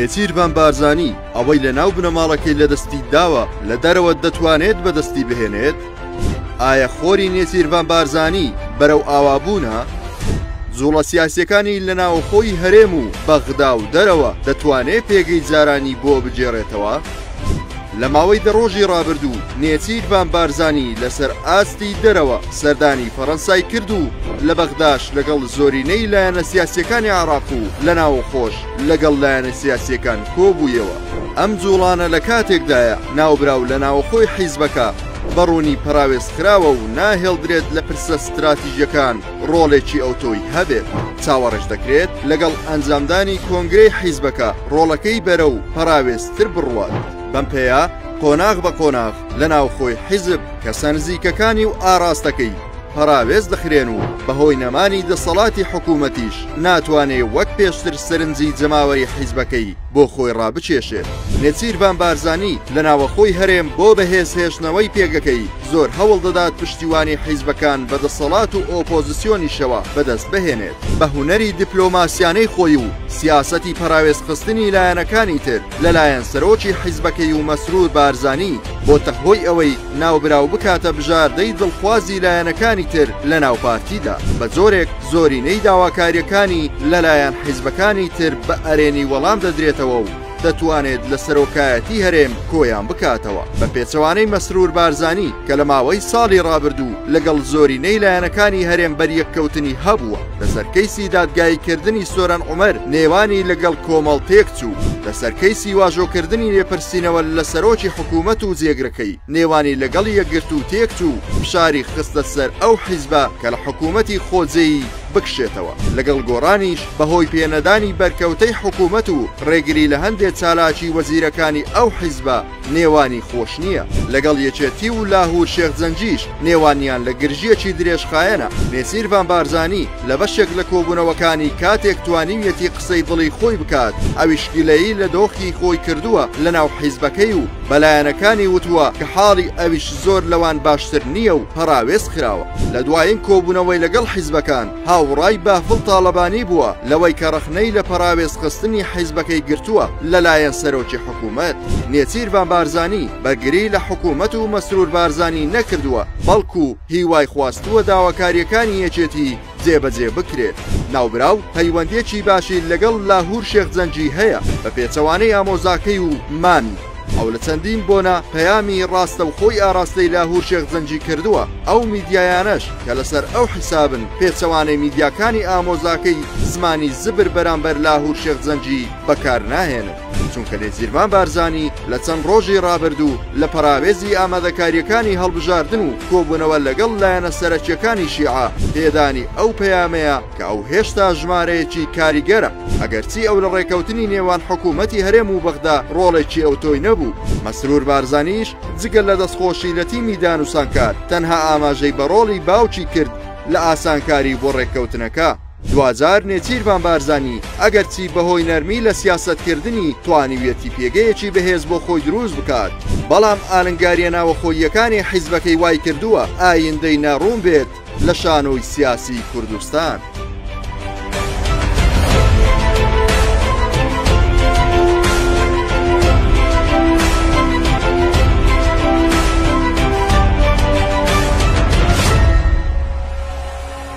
نێچیرڤان بارزانی ئەوەی لە ناو بنەماڵەکەی لە دەستی داوە لە دەرەوە دەتوانێت بەدەستی بهێنێت ئایا خۆری نێچیرڤان بارزانی بەرەو ئاوابوونە زوڵە سیاسەکانی لە ناوخۆی هەرێم و بەغدا و دەرەوە دەتوانێت پێگەی جارانی بۆ بگێڕێتەوە لە ماوەی دە ڕۆژی ڕابردوو نێچیر بان بارزانی لەسەر ئاستی دەرەوە سەردانی فەڕەنسای کرد و لە بەغداش لەگەڵ زۆرینەی لایەنە سیاسیەکانی عراق و لە ناوەخۆش لەگەڵ لایەنە سیاسیەکان کۆبوویەوە ئەم جوڵانە لە کاتێکدایە ناوبراو لە ناوەخۆی حیزبەکە بە ڕوونی پەراوێزخراوە و ناهێڵدرێت لە پرسە ستراتیژەکان ڕۆڵێکی ئەوتۆی هەبێت، چاوەڕێش دەکرێت لەگەڵ ئەنجامدانی کۆنگرەی حیزبەکە ڕۆڵەکەی بەرەو پەراوێزتر بڕوات، بەم پێیە قۆناغ بە قۆناغ لە ناوخۆی حیزب کەسە نزیکەکانی و ئاراستەکەی پەراوێز دەخرێن و بەهۆی نەمانی دەسەڵاتی حکوومەتیش ناتوانێ وەک پێشتر سەرنجی جەماوەری حیزبەکەی بۆ خۆی ڕابکێشێت. نێچیرڤان بارزانی لە ناوەخۆی هەرێم بۆ بەهێزهێشتنەوەی پێگەکەی، زۆر هەوڵ دەدات پشتیوانی حیزبەکان بە دەسەڵات و ئۆپۆزسیۆنیشەوە بەدەست بهێنێت بە هونەری دیپلۆماسیانەی خۆی و سیاسەتی پەراوێزخستنی لایەنەکانی تر لەلایەن سەرۆکی حیزبەکەی و مەسرور بارزانی بۆتە هۆی ئەوەی ناوبراو بکاتە بژاردەی دڵخوازی لایەنەکانی تر لە ناو پارتیدا بە جۆرێک زۆرینەی داواکاریەکانی لەلایەن حیزبەکانی تر بە ئەرێنی وەڵام دەدرێتەوە و دەتوانێت لە سەرۆکایەتی هەرێم کۆیان بکاتەوە بە پێچەوانەی مەسرور بارزانی کە لە ماوەی ساڵی ڕابردوو لەگەڵ زۆرینەی لایەنەکانی هەرێم بەریەککەوتنی هەبووە لەسەر کەیسی دادگایی کردنی سۆران عومەر نێوانی لەگەڵ کۆمەڵ تێکچوو لەسەر کەیسی واژۆکردنی لێپرسینەوە لە سەرۆکی حکوومەت و جێگرەکەی نێوانی لەگەڵ یەکگرتوو تێکچوو فشاری خستە سەر ئەو حیزبە کە لە حکوومەتی خۆجێی بکشێتەوە، لەگەڵ گۆڕانیش بەهۆی پێنەدانی بەرکەوتەی حکوومەت و ڕێگری لە هەندێ چالاکی وەزیرەکانی ئەو حیزبە نێوانی خۆش نییە، لەگەڵ یەکێتی و لاهوور شێخ جەنگیش نێوانیان لە گرژییەکی درێژخایەنە، نێچیرڤان بارزانی لە بەشێک لە کۆبوونەوەکانی کاتێک توانیویەتی قسەی دڵی خۆی بکات ئەویش گلەیی لە دۆخی خۆی کردووە لەناو حیزبەکەی و بە لایەنەکانی وتووە کە حاڵی ئەویش زۆر لەوان باشتر نییە و پەراوێز خراوە. لە دوایین کۆبوونەوەی لەگەڵ حیزبەکان، هاوڕای بافڵ تاڵەبانی بووە لەوەی کە ڕەخنەی لە پەراوێزخستنی حیزبەکەی گرتووە لەلایەن سەرۆکی حکوومەت، نێچیرڤان بارزانی، بەرگری لە حکوومەت و مەسرور بارزانی نەکردووە، بەڵکوو هیوای خواستووە داواکارییەکانی یەکێتی، جێبەجێ بکرێت. ناوبراو پەیوەندیەکی باشی لەگەڵ لاهور شێخ جەنگی هەیە بە پێچەوانەی ئامۆزاکەی و مامی ئەو لە چەندین بۆنە پەیامی ڕاستەوخۆی ئاراستەی لاهور شێخ جەنگی کردووە ئەو میدیایانەش کە لەسەر ئەو حیسابن پێچەوانەی میدیاکانی ئامۆزاکەی زمانی زبر بەرامبەر لاهور شێخ جەنگی بەکارناهێنن. چونکە نێچیرڤان بارزانی لە چەند ڕۆژی ڕابردوو لە پەراوێزی ئامادەکارییەکانی هەڵبژاردن و کۆبوونەوە لەگەڵ لایەنە سەرەکییەکانی شیعە پێدانی ئەو پەیامەیە کە ئەو هێشتا ژمارەیەکی کاریگەرە ئەگەرچی ئەو لە ڕێکەوتنی نێوان حکوومەتی هەرێم و بەغدا ڕۆڵێکی ئەوتۆی نەبوو مەسرور بارزانیش جگە لە دەستخۆشی لە تیمی دانوسانکار تەنها ئاماژەی بە ڕۆڵی باوکی کرد لە ئاسانکاری بۆ ڕێککەوتنەکە. دواجار نێچیرڤان بارزانی ئەگەرچی بەهۆی نەرمی لە سیاسەتکردنی توانیویەتی پێگەیەکی بەهێز بۆ خۆی دروست بکات، بەڵام ئالنگارییە ناوەخۆییەکانی حیزبەکەی وایکردووە ئایندەی ناڕوون بێت لە شانۆی سیاسیی کوردستان.